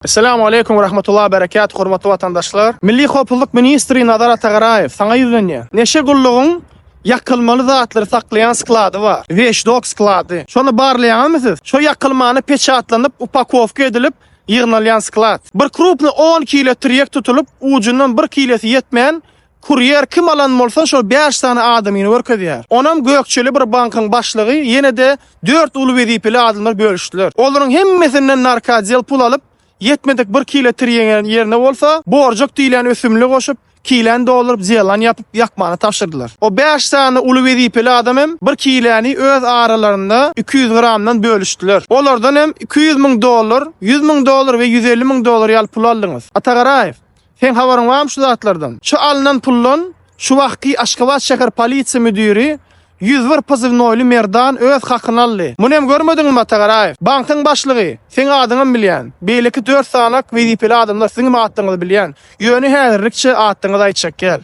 Essalamu Aleýkum we Rahmetullahi we Berekatuh Hormatly Watandaşlar! Milli Howpuzlyk Ministri Nazar Atagaraýew saňa ýüzlenýän. Neşe gullugyň ýakylmaly zatlary saklaýan sklady bar. Weşdok sklady. Şony barlaýaňyzmy siz? Şo ýakylmany peçatlanyp, upakowka edilip, ýygnalýan sklad. Bir krupny on kilo trýek tutulyp, ujundan bir kilosi ýetmän, Kurýer kim alan bolsa şo bäş sany adamyny görkezýär. Onam gökjeli bir bankyň başlygy ýene-de dört uly wezipeli adamlar bölüşdiler. Olaryň hemmesinden narkadzel pul alyp, ýetmedik bir kile tirýeňe ýerine bolsa, borjak diýilýän ösümli goşup, kileni dolduryp zelan ýapyp ýakmany tabşyrdylar. O bäş sany uly wezipeli adam hem bir kileni öz aralarynda iki ýüz gramdan bölüşdiler. Olardan hem iki ýüz müň dollar, ýüz müň dollar we ýüz elli müň dollar ýaly pul aldyňyz. Atagaraýew! Seň habaryň barmy şu zatlardan? Şu alnan puldan şu wagtky Aşgabat şäher polisiýa müdiri 101 pozywnoýly Merdan öz hakyny aldy. Muny hem görmediňmi Mata Garaýew? Bankyň başlygy, seň adyňam bilýän. Beýleki dört sanak wezipeli adamlar siziňem atlaryňyzy bilýän. Ýöne häzirlikçe atlaryňyzy aýtjak däl.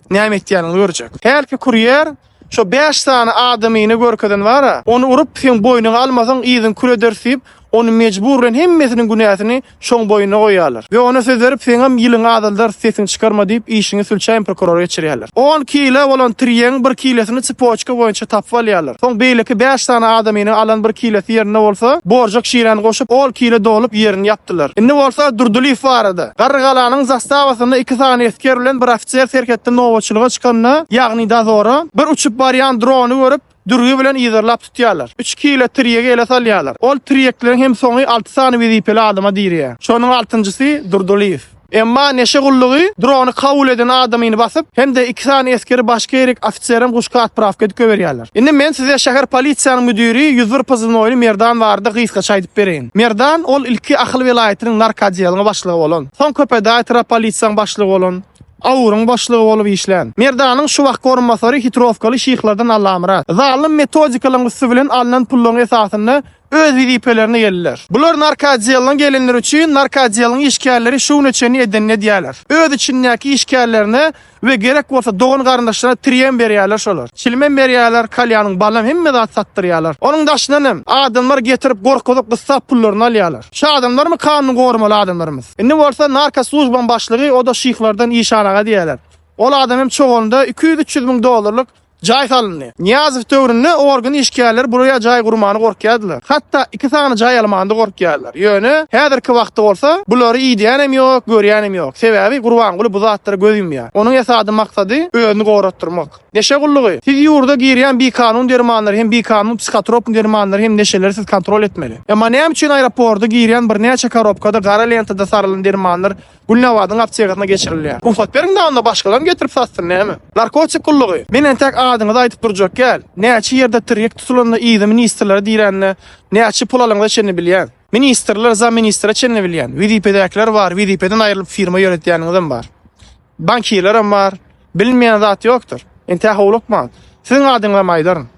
näme etýänini görjek. Hälki kurýer şo bäş sany adamyny görkezen bar-a, ony urup, seň boýnuňy almasaň, yzyňy kül ederis diýip, ony mejbur bilen hemmesiniň günäsini şoň boýnuna goýýarlar we ona söz berip, seňem ýylyňy azaldarys, sesiňi çykarma diýip, işiňi sülçäýen prokurora geçirýärler. On kile bolan tirýegiň bir kilesini tsipoçka boýunça tapyp alýarlar. Soň beýleki bäş sany adamynyň alan bir kilesi ýerinde bolsa, borjak şiräni goşup, ol kile dolup ýerini ýapdylar. Indi bolsa Durdylyýew barada. Garrygalanyň zastawasynda iki sany esger bilen bir ofiser serhetde nobatçylyga çykanda, ýagny dozora, bir uçup barýan drony görüp, dürgi bilen yzarlap tutýarlar. Üç kile tirýegi ele salýarlar. Ol tirýekleriň hem soňy alty sany wezipeli adama dirýär. Şonuň altynjysy Durdylyýew. Emma neşe gullugy drony kabul eden adamyny basyp, hem-de iki sany esgeri başga ýerik ofiserem guşka otprawka edip goýberýärler. Indi men size şäher polisiýanyň müdiri ýüz bir pozywnoýly Merdan barada gysgaça aýdyp bereýin. Merdan, ol ilki Ahal welaýatynyň narkoodealyň başlygy bolan, soň Köpetdag etrap polisiýaň başlygy bolan, AUR-yň başlygy bolup işlän. Merdanyň şu wagtky orunbasary hitrowkaly şyhlardan Allamyrat. Zalym metodikalaryň üsti bilen alnan pullaryň esasynda öz wezipelerine geldiler. Bular narkoodellaň gelenleri üçin narkoodellaň işgärleri şu güne çenli edenini edýärler. Öz içindäki işgärlerine we gerek bolsa dogan-garyndaşlaryna tirýem berýärler şolar. Çilimem berýärler, kalýanyň balam hemme zat satdyrýarlar. Onuň daşyndan hem adamlar getirip gorkuzyp gyssap pullaryny alýarlar. Şu adamlarmy kanuny goramaly adamlarymyz. Indi bolsa narko slujbaň başlygy oda şyhlardan işan aga diýýärler. Ol adam hem çoganda iki ýüz-üç ýüz müň dollarlyk Jaý salyndy. Nyýazow döwründe organ işgärleri buraya jaý gurmany gorkýardylar. Hatda iki sany jaý almanda gorkýarlar. Ýöne, häzirki wagtda bolsa, bulary idýänem ýok, görýänem ýok. Sebäbi Gurbanguly bu zatlara göz ýumýar. Onuň esady maksady özüni goratdyrmak. Neşe gullugy. Siz ýurda girýän bikanun dermanlary hem bikanun psihotropny dermanlary hem neşeleri siz kontrol etmeli. Emma näme üçin aeroporda girýän birnäçe korobkada gara lentada sarylan dermanlar Gülnabadyň aptegasyna geçirilýär. Rugsat beriň-de onda başgalarym getirip satsyn näme? Narkotik gullugy. Men entäk adyňyzy aýdyp durjak gäl. Näçe ýerde tirýek tutulanda yzy ministrlere dirände näçe pul alangyza çenli bilýän. Ministrler zamministre çenli bilýän. Wezipedäkiler bar, wezipeden aýrylyp firma ýöretýäniňizem bar. Bankirlerem bar. Bilinmeýän zat ýokdur. Entäk howlukmaň. Siziň adyňyzam aýdaryn.